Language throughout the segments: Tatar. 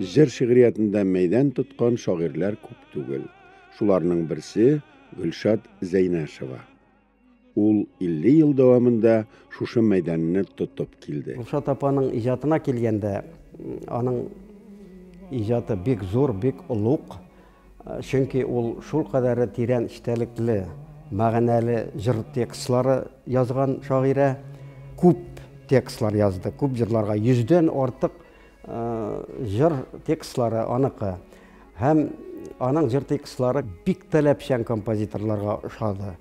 Җыр шигъриятендә мәйдан тоткан шагыйрьләр күп түгел. Шуларның берсе Гөлшат Зәйнәшева. Ул 50 ел дәвамында шушы мәйданны тотып килде. Гөлшат апаның иҗатына килгәндә, аның иҗаты бик зур, бик олуг. Чөнки ул шул кадәре тирән эчтәлекле, мәгънәле җыр текстлары язган шагыйрә. Күп текстлар язды, күп җырларга, йөздән артык Җыр текстлары аныкы. Һәм аның җыр текстлары бик таләпчән композиторларга ошады.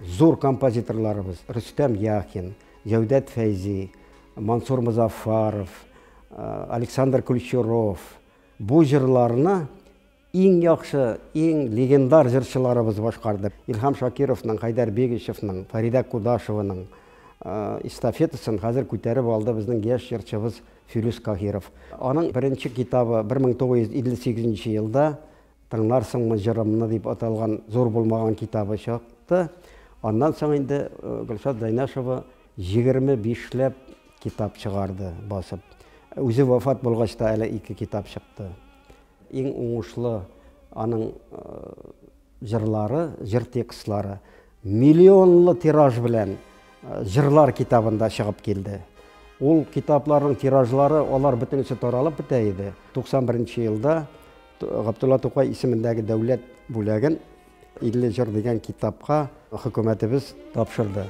Зур композиторларыбыз Рөстәм Яхин, Җәүдәт Фәйзи, Мансур Музафаров, Александр Кульчуров бу җырларны Иң яхшы, иң легендар җырчыларыбыз башкарды. Илһам Шакировның, Хәйдәр Бигичевның, Фәридә Кудашеваның эстафетасын хәзер күтәреп алды безнең яшь җырчыбыз Филүс Каһиров. Аның беренче китабы 1958 нче елда Тыңларсыңмы җырымны дип аталган зур булмаган китабы чыкты. Аннан соң инде Гөлшат Зәйнәшева 25 ләп китап чыгарды басып. Үзе вафат булгач та әле ике китап чыкты. Иң уңышлы аның җырлары, җыр текстлары миллионлы тираж белән җырлар китабында чыгып килде. Ул китапларның тиражлары, алар бөтенесе таралып бетә иде. 91 нче елда Габдулла Тукай исемендәге дәүләт бүләген 50 җыр дигән китапка хөкүмәтебез тапшырды.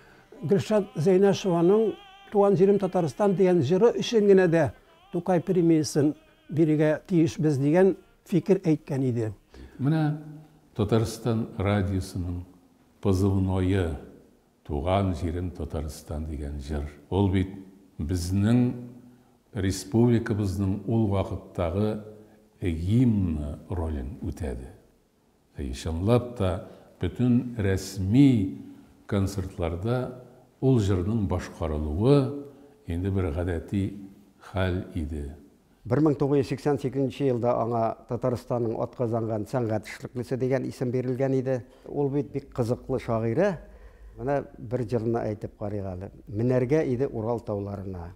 Гөлшат Зәйнәшеваның Туган җирем Татарстан дигән җыры өчен генә дә Тукай премиясен бирергә тиешбез дигән фикер әйткән иде. Менә Татарстан радиосының позывное Туган җирем Татарстан дигән җыр. Ул бит безнең республикабызның ул вакыттагы гимны ролен үтәде. И, чынлап та, бөтен рәсми концертларда ул җырның башкарылуы инде бер гадәти хәл иде. 1988 нче елда аңа Татарстанның атказанган сәнгать эшлеклесе дигән исем бирелгән иде. Ул бит бик кызыклы шагыйрә. Менә бер җырны әйтеп карыйк әле. Менәргә иде Урал тауларына.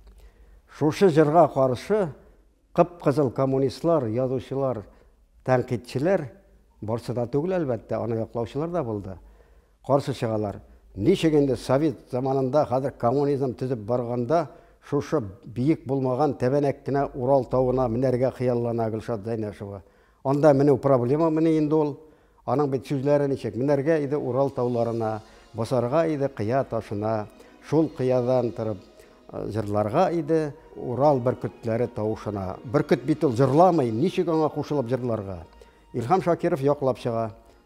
Шушы җырга каршы Кып-кызыл коммунистлар, язучылар, тәнкыйтьчеләр, барсы да түгел, әлбәттә, аны яклаучылар да булды, каршы чыгалар. Ничек инде совет заманында, хәзер коммунизм төзеп барганда, шушы биек булмаган тәбәнәк кенә Урал тавына менәргә хыяллана Гөлшат Зәйнәшева? Анда меню проблема мени инде ул? Аның бит сүзләре ничек, Менәргә иде Урал тауларына, Басарга иде кыя ташына, Шул кыядан торып җырларга иде Урал бөркетләре тавышына. Бөркет бит ул җырламый, ничек аңа кушылып җырларга? Илһам Шакиров яклап чыга.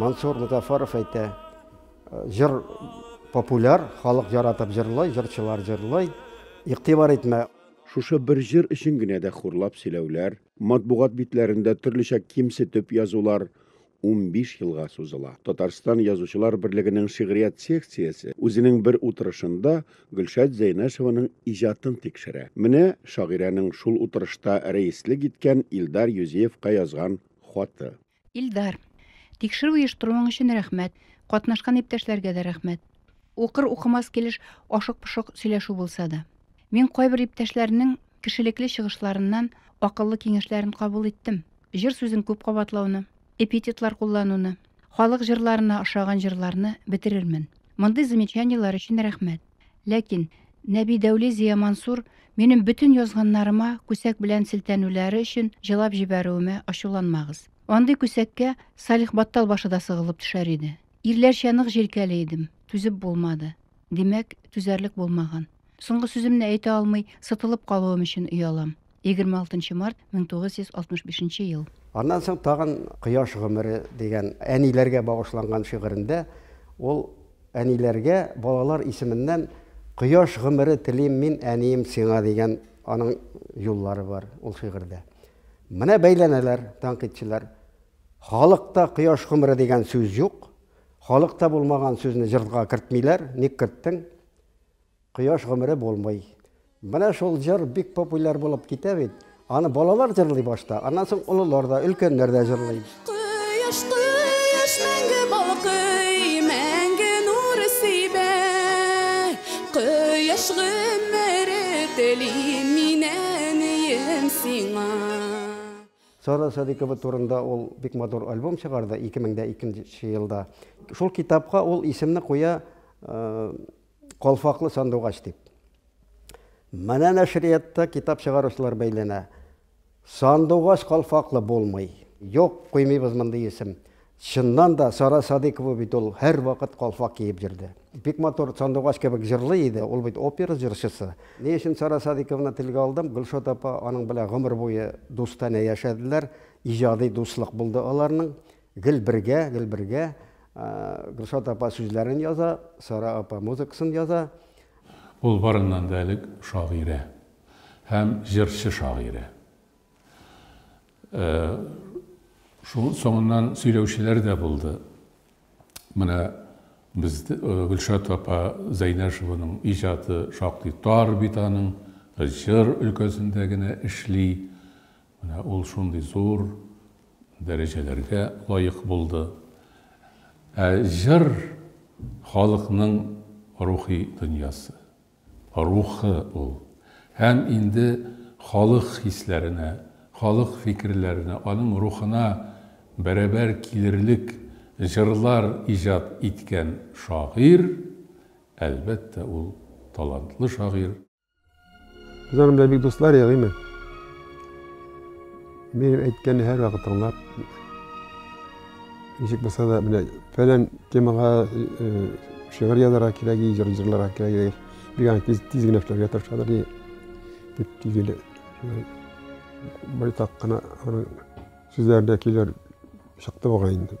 Мансур Музафаров әйтә, җыр популяр, халык яратып җырлый, җырчылар җырлый, игътибар итмә. Шушы бер җыр өчен генә дә хурлап сөйләүләр, матбугат битләрендә төрлечә кимсетеп язулар унбиш елга сузыла. Татарстан Язучылар берлегенең шигърият секциясе үзенең бер утырышында Гөлшат Зәйнәшеваның иҗатын тикшерә. Менә шагыйрәнең шул утырышта рәислек иткән Илдар Юзеевка язган хаты. Илдар. Тикшерү оештыруың өчен рәхмәт. Катнашкан иптәшләргә дә рәхмәт. Укыр укымас килеш ашык-пошык сөйләшү булса да. Мин кайбер иптәшләрнең кешелекле чыгышларыннан акыллы киңәшләрен кабул иттем. Җыр сүзен күп кабатлауны, эпитетлар куллануны, халык җырларына ошаган җырларны бетерермен. Мондый замечаниеләр өчен рәхмәт. Ләкин Нәби Дәүли Зиямансур минем бөтен язганнарыма күсәк белән селтәнүләре өчен җылап җибәрүемә ачуланмагыз. Андый күсәккә Салих Баттал башы да сыгылып төшәр иде. Ирләрчә нык җилкәли идем, түзеп булмады. Димәк, түзәрлек булмаган. Соңгы сүземне әйтә алмый сытылып калуым өчен оялам. 26 март 1965 ел. Аннан соң тагын Кояш гомере дигән әниләргә багышланган шигырендә ул әниләргә балалар исеменнән Кояш гомере телим мин, әнием, сиңа дигән аның юллары бар ул шигырьдә. Менә бәйләнәләр тәнкыйтьчеләр. Халыкта Кояш гомере дигән сүз юк. Халыкта булмаган сүзне җырга кертмиләр, ник керттең? Кояш гомере булмый. Менә шул җыр бик популяр булып китә бит. Аны балалар җырлый башта, аннан соң олылар да, өлкәннәр дә җырлый. Кояш, кояш мәңге балкый, мәңге нур сибә. Кояш гомере телим мин әнием сиңа. Сара Садыйкова турында ул бик матур альбом чыгарды 2002 нче елда. Шул китапка ул исемне куя Калфаклы сандугач дип. Менә нәшриятта китап чыгаручылар бәйләнә. Сандугач калфаклы булмый. Юк, куймыйбыз мондый исем. Чыннан да, Сара Садыйкова бит ул һәрвакыт калфак киеп йөрде. Бик матур сандугач кебек җырлый иде, ул бит опера җырчысы. Ни өчен Сара Садыйкованы телгә алдым? Гөлшат апа аның белән гомер буе дустанә яшәделәр, иҗади дуслык булды аларның. Гел бергә, гел бергә. Гөлшат апа сүзләрен яза, Сара апа музыкасын яза. Ул барыннан да элек шагыйрә һәм җырчы-шагыйрә. Шуның соңыннан сөйләүчеләр дә булды. Менә без Гөлшат апа Зәйнәшеваның иҗаты шактый тар бит аның, җыр өлкәсендә генә эшли. Менә ул шундый зур дәрәҗәләргә лаек булды. Ә җыр, халыкның рухи дөньясы, рухы ул. Һәм инде халык хисләренә, халык фикерләренә, аның рухына бәрабәр килерлек җырлар иҗат иткән шагыйрь, әлбәттә, ул талантлы шагыйрь. Без аның белән бик дуслар идек, әйме? Минем әйткәнне һәр вакыт тыңлап, ничек булса да, менә фәлән темага шигырь язарга кирәк, җыр җырларга кирәк, бик аны тиз, тиз генә эшләргә тырышадыр, ди, дип тигеле. Байтак кына аның сүзләрендә көйләр чыкты бугай инде.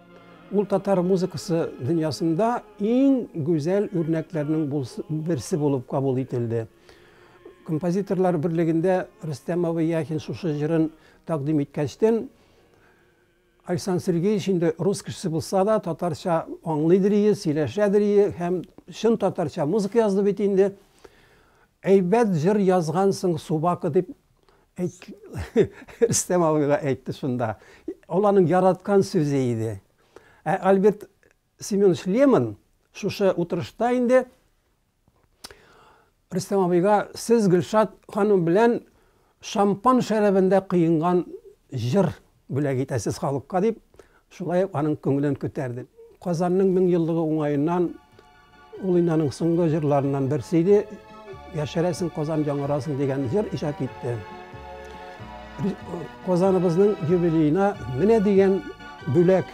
Ул татар музыкасы дөньясында иң гүзәл үрнәкләрнең берсе булып кабул ителде. Композиторлар берлегендә Рөстәмова Яхин шушы җырын тәкъдим иткәчтен, Александр Сергеевич инде рус кешесе булса да, татарча аңлыйдыр ие, сөйләшәдер ие һәм чын татарча музыка язды бит инде. Әйбәт җыр язгансың, Субака, дип Әйт, Рөстәм абыйга әйтте шунда. Ул аның яраткан сүзе иде. Ә Альберт Семенович Лемон шушы утырышта инде Рөстәм абыйга сез Гөлшат ханым белән шампан шәрабендә кыенган җыр бүләк итәсез халыкка, дип, шулай ук аның күңелен күтәрде. Казанның меңьеллыгы уңаеннан ул инде аның соңгы җырларыннан берсе иде. Яшәрәсең Казан яңарасың дигән җыр иҗат итте. Казаныбызның юбилеена менә дигән бүләк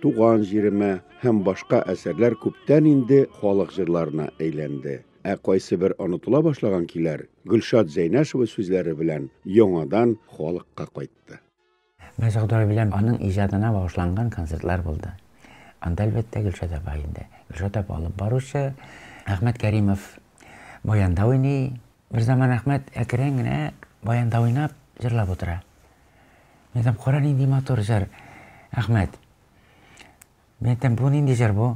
Туган җиремә һәм башка әсәрләр күптән инде халык җырларына әйләнде. Ә кайсы бер онытыла башлаган көйләр Гөлшат Зәйнәшева сүзләре белән яңадан халыкка кайтты. Бер сокдор белән аның иҗатына багышланган концертлар булды. Анда, әлбәттә, Гөлшат апа инде. Гөлшат апа алып баручы, Әхмәт Кәримов баянда уйный. Берзаман Әхмәт әкрен генә баянда уйнап, җырлап утыра. Мин әйтәм, кара нинди матур җыр. Әхмәт. Мин әйтәм, бу нинди җыр бу?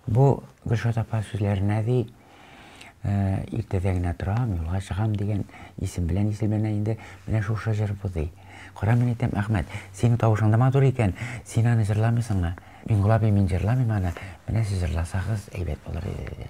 Бу Гөлшат апа сүзләренә ди, э, иртәдә генә торам, юлга чыгам дигән исем белән исемләнә инде. Менә шушы җыр бу ди. Кара мин әйтәм, Әхмәт, синең тавышың да матур икән, син аны җырламыйсыңмы? Мин Гулабий мин җырламыйм аны, менә сез җырласагыз әйбәт булыр иде, диде.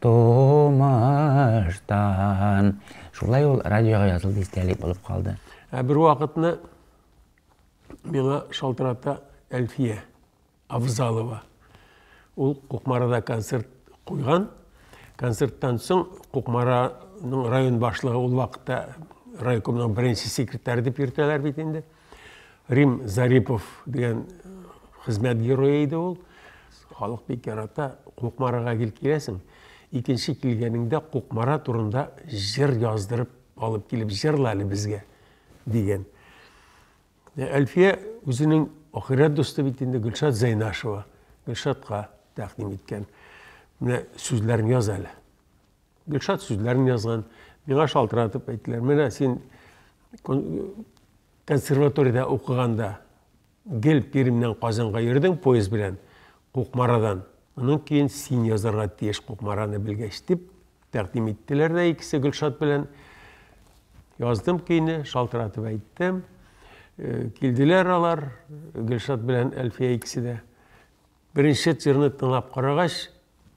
Тумыштан. Шулай ул радиога язылды, истәлек булып калды. Ә бервакытны миңа шалтырата Әлфия Авзалова. Ул Кукмарада концерт куйган. Концерттан соң Кукмараның район башлыгы ул вакытта райкомның беренче секретаре дип йөртәләр бит инде. Рим Зарипов дигән хезмәт герое иде ул. Халык бик ярата. Кукмарага гел киләсең. Икенче килгәнеңдә Кукмара турында җыр яздырып алып килеп җырла әле безгә дигән. Әлфия үзенең ахирәт дусты бит инде Гөлшат Зәйнашева. Гөлшатка тәкъдим иткән. Менә сүзләрен яз әле. Гөлшат сүзләрен язган. Миңа шалтыратып әйттеләр, менә син консерваториядә укыганда гел Пермьнән Казанга йөрдең поезд белән, Кукмарадан. Моның кейін син язарга тиеш Кукмараны белгәч, дип тәкъдим иттеләр дә икесе Гөлшат белән. Яздым көйне, шалтыратып әйттем. Э, килделәр алар, Гөлшат белән Әлфия икесе дә. Беренче тирны тыңлап карагач,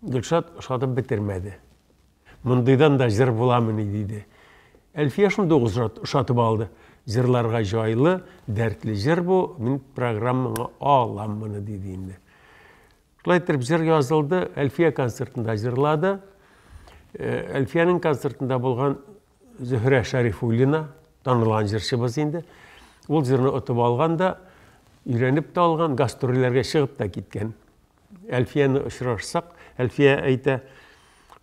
Гөлшат ошатып бетермәде. Мондыйдан да җыр буламыни, диде. Әлфия шундый ук ошатып алды. Җырларга җайлы, дәртле җыр бу, мин программаңа алам моны, диде инде. Шулай итеп җыр язылды, Әлфия концертында җырлады. Әлфиянең концертында булган Зөһрә Шәрифуллина, танылган җырчыбыз инде. Ул җырны отып алган да, өйрәнеп тә алган, гастрольләргә чыгып та киткән. Әлфияне очрашсак, Әлфия әйтә,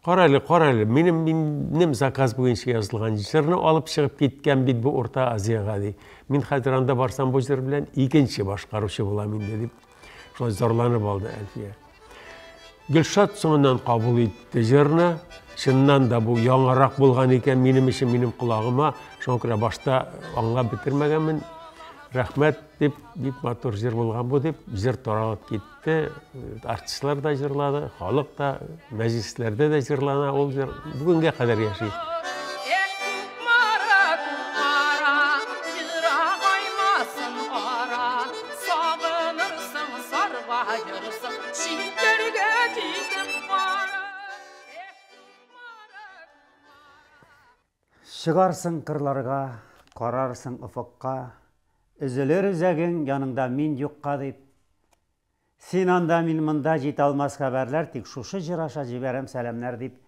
кара әле, кара әле, минем, минем заказ буенча язылган җырны алып чыгып киткән бит бу Урта Азиягә, ди. Мин хәзер анда барсам, бу җыр белән икенче башкаручы булам инде, дип. Шулай зарланып алды Әлфия. Гөлшат соңыннан кабул итте җырны. Чыннан да бу яңарак булган икән минем өчен, минем колагыма. Шуңа күрә башта аңлап бетермәгәнмен. Рәхмәт дип, бик матур җыр булган бу дип, җыр таралып китте. Артистлар да җырлады, халык та Мәҗлесләрдә дә җырлана ул җыр, бүгенгә кадәр яши. Чыгарсың кырларга, карарсың офыкка, Өзелер үзәгең яныңда мин юкка дип. Син анда, мин монда, җиталмас хәбәрләр, тик шушы җыр аша җибәрәм сәламнәр, дип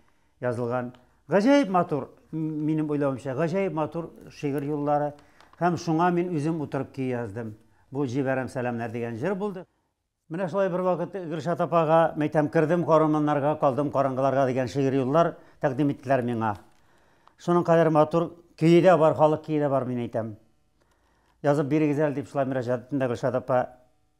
язылган гаҗәеп матур, минем уйлавымча, гаҗәеп матур шигырь юллары. Һәм шуңа мин үзем утырып көй яздым. Бу Җибәрәм сәламнәр дигән җыр булды. Менә шулай бервакыт Гөлшат апага, мәйтәм, Кердем караманнарга, калдым караңгыларга дигән шигырь юллар тәкъдим иттеләр миңа. Шуның кадәр матур, көе дә бар, халык көе дә бар, мин әйтәм. Язып бирегез әле, дип шулай мөрәҗәгать иттем дә Гөлшат апа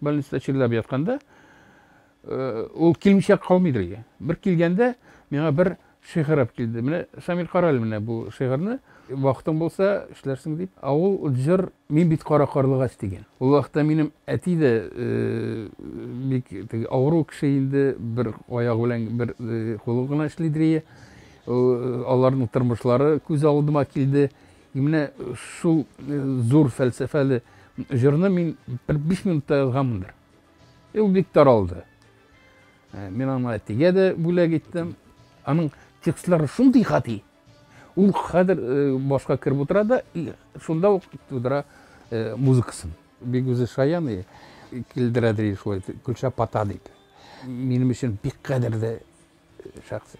больницада чирләп ятканда, ул килмичә калмыйдыр иде. Бер килгәндә миңа бер шигырь алып килде. Менә Шамил кара әле менә бу шигырьне. Вакытың булса, эшләрсең дип. Ә ул җыр Мин бит кара карлыгач дигән. Ул вакытта минем әти дә бик теге авыру кеше инде, бер аягы белән бер кулы гына эшлидер ие. Аларның тормышлары күз алдыма килде. И менә шул зур фәлсәфәле җырны мин бер биш минутта язганмындыр. И ул бик таралды. Мин аны әтигә дә бүләк иттем. Аның текстлары шундый гади. Ул хәзер башка кереп утыра да, шунда ук тудыра музыкасын. Бик үзе шаян и килдерә ди шулай, Гөлча пата дип. Минем өчен бик кадерле Шәхси.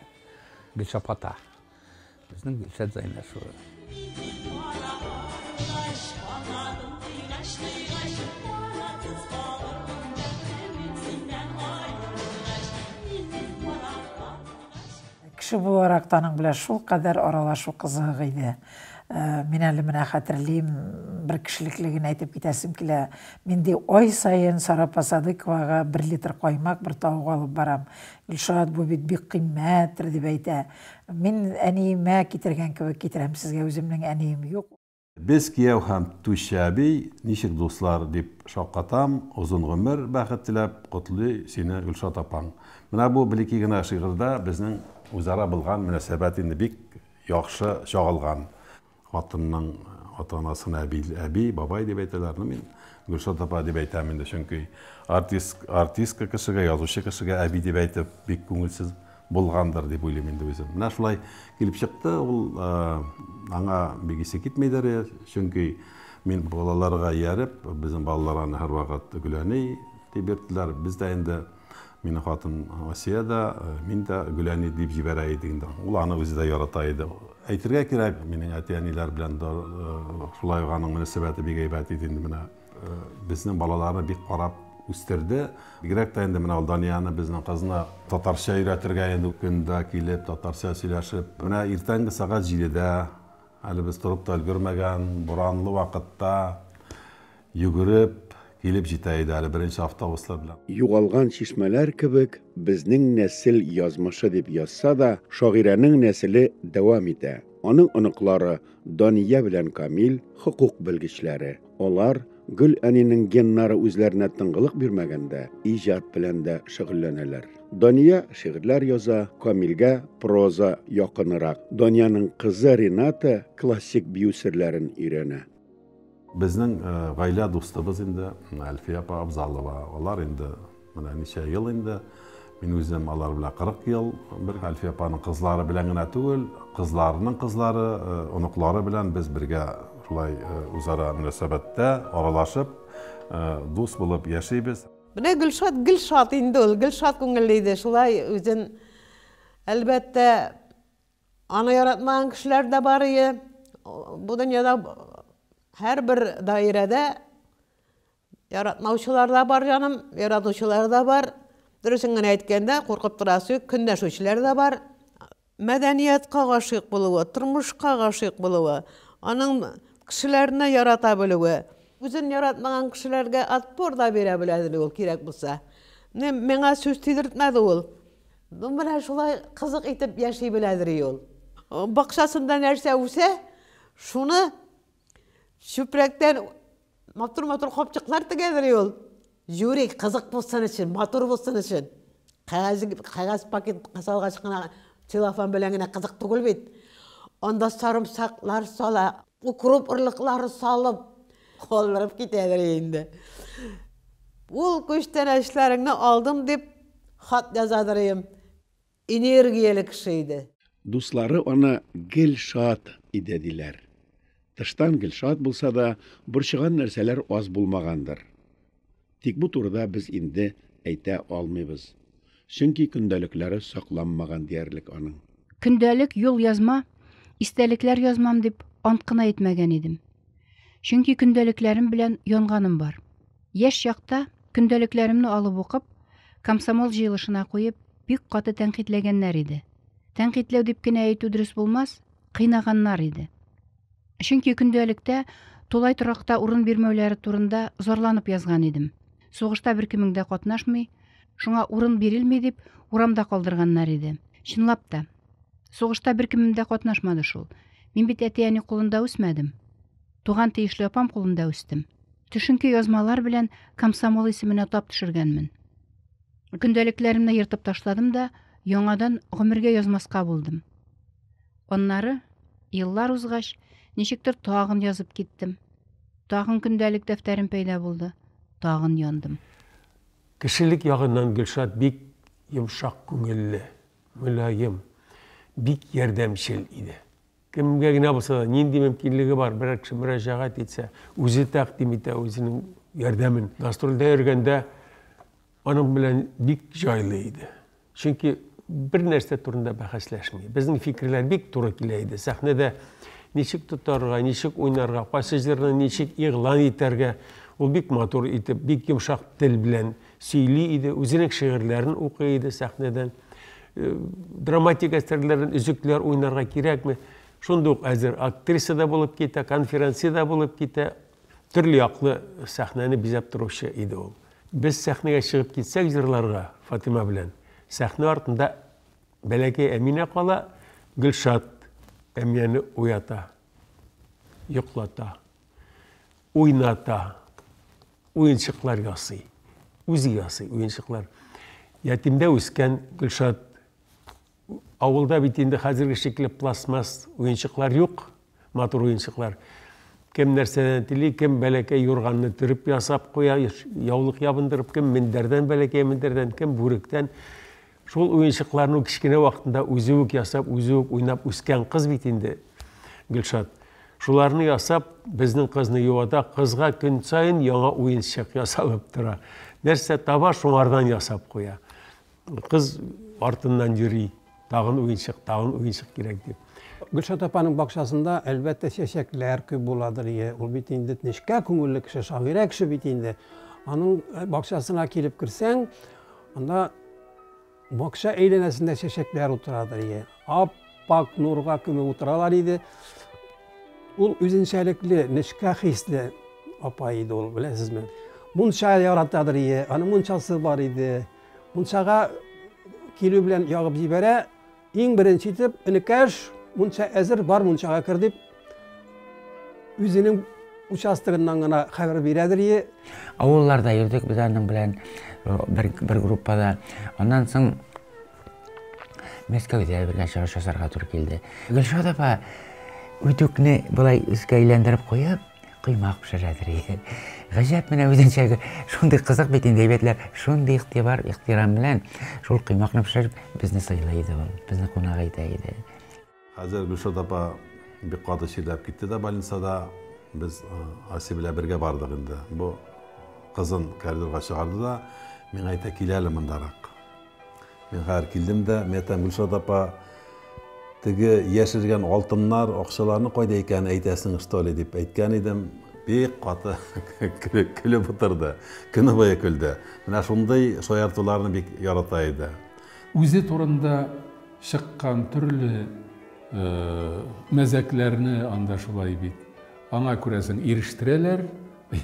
Гөлшап ата. Безнең Гөлшат Зайнәшева. Кеше буларак та аның белән шулкадәр аралашу кызык иде. Мин әле менә хәтерлим, бер кешелекле генә әйтеп китәсем килә. Мин ди ай саен Сара Посадыковага бер литр каймак, бер тавык алып барам. Илшат, бу бит бик кыйммәттер, дип әйтә. Мин әниемә китергән кебек китерәм сезгә, үземнең әнием юк. Без кияү һәм Түшче әби, ничек дуслар, дип шаккатам, озын гомер, бәхет теләп, котлый сине Гөлшат апаң. Менә бу блеки генә шигырьдә безнең үзара булган мөнәсәбәт инде бик яхшы чагылган. Хатынның ата-анасына әби, әби, бабай дип әйтәләр. Ну, мин Гөлшат апа дип әйтәм инде, чөнки артист, артистка кешегә, язучы кешегә әби дип әйтеп бик күңелсез булгандыр дип уйлыйм инде үзем. Менә шулай килеп чыкты, ул аңа бик исе китмидер, чөнки мин балаларга ияреп, безнең балалар аны һәрвакыт Гөләни дип йөрттеләр. Без дә инде Мине хатын Асия дә, мин дә Гөләни дип җибәрә идек инде. Ул аны үзе дә ярата иде. Әйтергә кирәк, минең әти-әниләр белән дә шулай ук аның мөнәсәбәте бик әйбәт иде инде менә. Безнең балаларны бик карап үстерде. Бигрәк тә инде менә ул Данияне, безнең кызны татарча өйрәтергә инде көндә килеп, татарча сөйләшеп. Менә иртәнге сәгать җидедә, әле без торып та өлгермәгән, буранлы вакытта Йөгереп килеп җитә иде әле беренче автобуслар белән. Югалган чишмәләр кебек безнең нәсел язмышы дип язса да, шагыйрәнең нәселе дәвам итә. Аның оныклары Дания белән Камил, хокук белгечләре. Алар, Гөл әнинең геннары үзләренә тынгылык бирмәгәндә, иҗат белән дә шөгыльләнәләр. Дания шигырьләр яза, Камилгә проза якынырак. Даниянең кызы Рената классик бию серләрен өйрәнә. Безнең гаилә дустыбыз инде Әлфия апа Абзалова. Алар инде менә ничә ел инде. Мин үзем алар белән 40 ел бер. Әлфия апаның кызлары белән генә түгел, кызларының кызлары, оныклары белән без бергә шулай үзара мөнәсәбәттә, аралашып, дус булып яшибез. Менә Гөлшат гел шат инде ул, гел шат күңелле иде. Шулай үзен, әлбәттә, Аны яратмаган кешеләр дә бар ие. Бу дөньяда һәрбер даирәдә яратмаучылар да бар, җаным, яратучылар да бар. Дөресен генә әйткәндә, куркып торасы юк, көнләшүчеләр дә бар. Мәдәниятка гашыйк булуы, тормышка гашыйк булуы, аның кешеләрне ярата белүе, үзен яратмаган кешеләргә отпор да бирә беләдер ул, кирәк булса. Менә миңа сүз тидертмәде ул. Ну, менә шулай кызык итеп яши беләдери ул. Бакчасында нәрсә үсә, шуны чүпрәктән матур-матур капчыклар тегәдери ул. Юри, кызык булсын өчен, матур булсын өчен. Кәгазь, кәгазь пакет салгач кына целлофан белән генә кызык түгел бит. Анда сарымсаклар сала, Укроп орлыклары салып калдырып китәдер инде. Ул күчтәнәчләреңне алдым дип хат язадыр ием. Энергияле кеше иде. Дуслары аны гел шат иде, диләр. Тыштан гел шат булса да, борчыган нәрсәләр аз булмагандыр. Тик бу турыда без инде әйтә алмыйбыз. Чөнки көндәлекләре сакланмаган диярлек аның. Көндәлек юл язма, истәлекләр язмам дип ант кына итмәгән идем. Чөнки көндәлекләрем белән янганым бар. Яшь чакта көндәлекләремне алып укып, комсомол җыелышына куеп, бик каты тәнкыйтьләгәннәр иде. Тәнкыйтьләү дип кенә әйтү дөрес булмас, кыйнаганнар иде. Чөнки көндәлектә тулай торакта урын бирмәүләре турында зарланып язган идем. Сугышта беркемең дә катнашмый, шуңа урын бирелми дип, урамда калдырганнар иде. Чынлап та, сугышта беркемем дә катнашмады шул. Мин бит әти-әни кулында үсмәдем. Туган тиешле апам кулында үстем. Төшенке язмалар белән комсомол исеменә тап төшергәнмен. Көндәлекләремне ертып ташладым да, яңадан гомергә язмаска булдым. Аннары, еллар узгач, ничектер тагын язып киттем. Тагын көндәлек дәфтәрем пәйда булды. Тагын яндым. Кешелек ягыннан Гөлшат бик йомшак күңелле, мөлаем, бик ярдәмчел иде. Кемгә генә булса да, нинди мөмкинлеге бар, берәр кеше мөрәҗәгать итсә, үзе тәкъдим итә үзенең ярдәмен. Гастрольдә йөргәндә аның белән бик җайлы иде. Чөнки бер нәрсә турында бәхәсләшми. Безнең фикерләр бик туры килә иде. Сәхнәдә ничек тотарга, ничек уйнарга, кайсы җырны ничек игълан итәргә, ул бик матур итеп, бик йомшак тел белән сөйли иде, үзенең шигырьләрен укый иде сәхнәдән. Э, драматик әсәрләрен өзекләр уйнарга кирәкме? Шундук әзер актриса да булып китә, конференция да булып китә, Төрле яклы сәхнәне бизәп торучы иде ул. Без сәхнәгә чыгып китсәк җырларга Фатыйма белән, сәхнә артында бәләкәй Әминә кала, Гөлшат Әминәне уята, йоклата, уйната, уенчыклар ясый, үзе ясый уенчыклар. Ятимдә үскән Гөлшат Авылда бит инде хәзерге шикелле пластмасс уенчыклар юк, матур уенчыклар. Кем нәрсәне тели, кем бәләкәй юрганны төреп ясап куя, яулык ябындырып, кем мендәрдән бәләкәй мендәрдән, кем бүректән. Шул уенчыкларны кечкенә вакытында үзе үк ясап, үзе үк уйнап үскән кыз бит инде Гөлшат. Шуларны ясап, безнең кызны юата, кызга көн саен яңа уенчык ясалып тора. Нәрсә таба, шуңардан ясап куя. Кыз артыннан йөри, тагын уенчык, тагын уенчык кирәк дип. Гөлшат апаның бакчасында, әлбәттә, чәчәкләр күп буладыр, ие. Ул бит инде нечкә күңелле кеше, шагыйрә кеше бит инде. Аның э, бакчасына килеп керсәң, анда бакча әйләнәсендә чәчәкләр утырадыр, ие. Ап-пак нурга күмеп утыралар иде. Ул үзенчәлекле, нечкә хисле апа иде ул, беләсезме? Мунча яратадыр, ие. Аның мунчасы бар иде. Мунчага килү белән ягып җибәрә, иң беренче итеп, энекәш, мунча әзер, бар мунчага кер дип, үзенең участогыннан гына хәбәр бирәдер е. Авылларда йөрдек без аның белән бер, бер группада. Аннан соң Мәскәүдә бергә чыгыш ясарга туры килде. Гөлшат апа үтүкне былай өскә әйләндереп куеп, Коймак пешерәдер. Гаҗәп менә үзенчә шундый кызык бит инде әйбәтләр. Шундый игътибар, ихтирам белән шул коймакны пешереп безне сыйлый иде ул. Безне кунак итә иде. Хәзер Гөлшат апа бик каты чирләп китте дә больницада. Без Аси белән бергә бардык инде. Бу кызын коридорга чыгарды да, миңа әйтә, кил әле мондарак. Мин хәзер килдем дә, мин әйтәм, Гөлшат апа, теге яшергән алтыннар, акчаларны кайда икәнен әйтәсең, что ли, дип әйткән идем. Бик каты көлеп утырды. Көне буе көлде. Менә шундый шаяртуларны бик ярата иде. Үзе турында чыккан төрле мәзәкләрне анда шулай бит. Аңа күрәсең, ирештерәләр,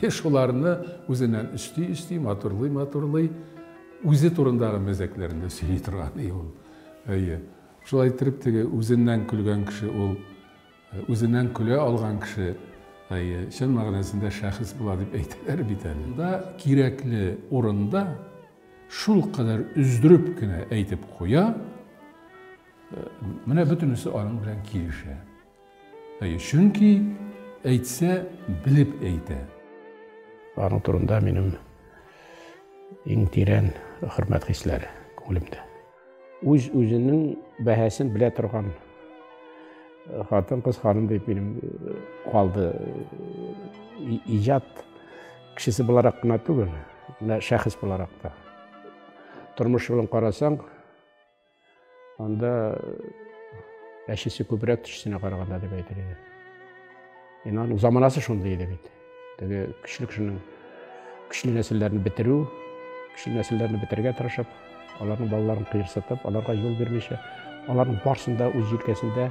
шуларны үзеннән өсти-өсти, матурлый-матурлый, Үзе турындагы мәзәкләренә сөйли торган и ул. Әйе. Шулай иттереп теге үзеннән көлгән кеше ул үзеннән көлә алган кеше, әйе, чын мәгънәсендә шәхес була дип әйтәләр бит әле. Монда кирәкле урында шулкадәр өздереп кенә әйтеп куя, менә бөтенесе аның белән килешә. Әйе, чөнки әйтсә, белеп әйтә. Аның турында минем иң тирән хөрмәт хисләре күңелемдә. Үз-үзенең бәһасен белә торган хатын кыз ханым дип минем э, калды э, иҗат кешесе буларак кына түгел менә шәхес буларак та тормыш юлын карасаң Анда әчесе күбрәк төчесенә караганда дип әйтер иде. Ен аның заманасы шундый иде бит. Теге көчле кешенең көчле нәселләрне бетерү, көчле нәселләрне бетергә тырышып, аларның балаларын кыерсытып, аларга юл бирмичә, аларның барсын да үз җилкәсендә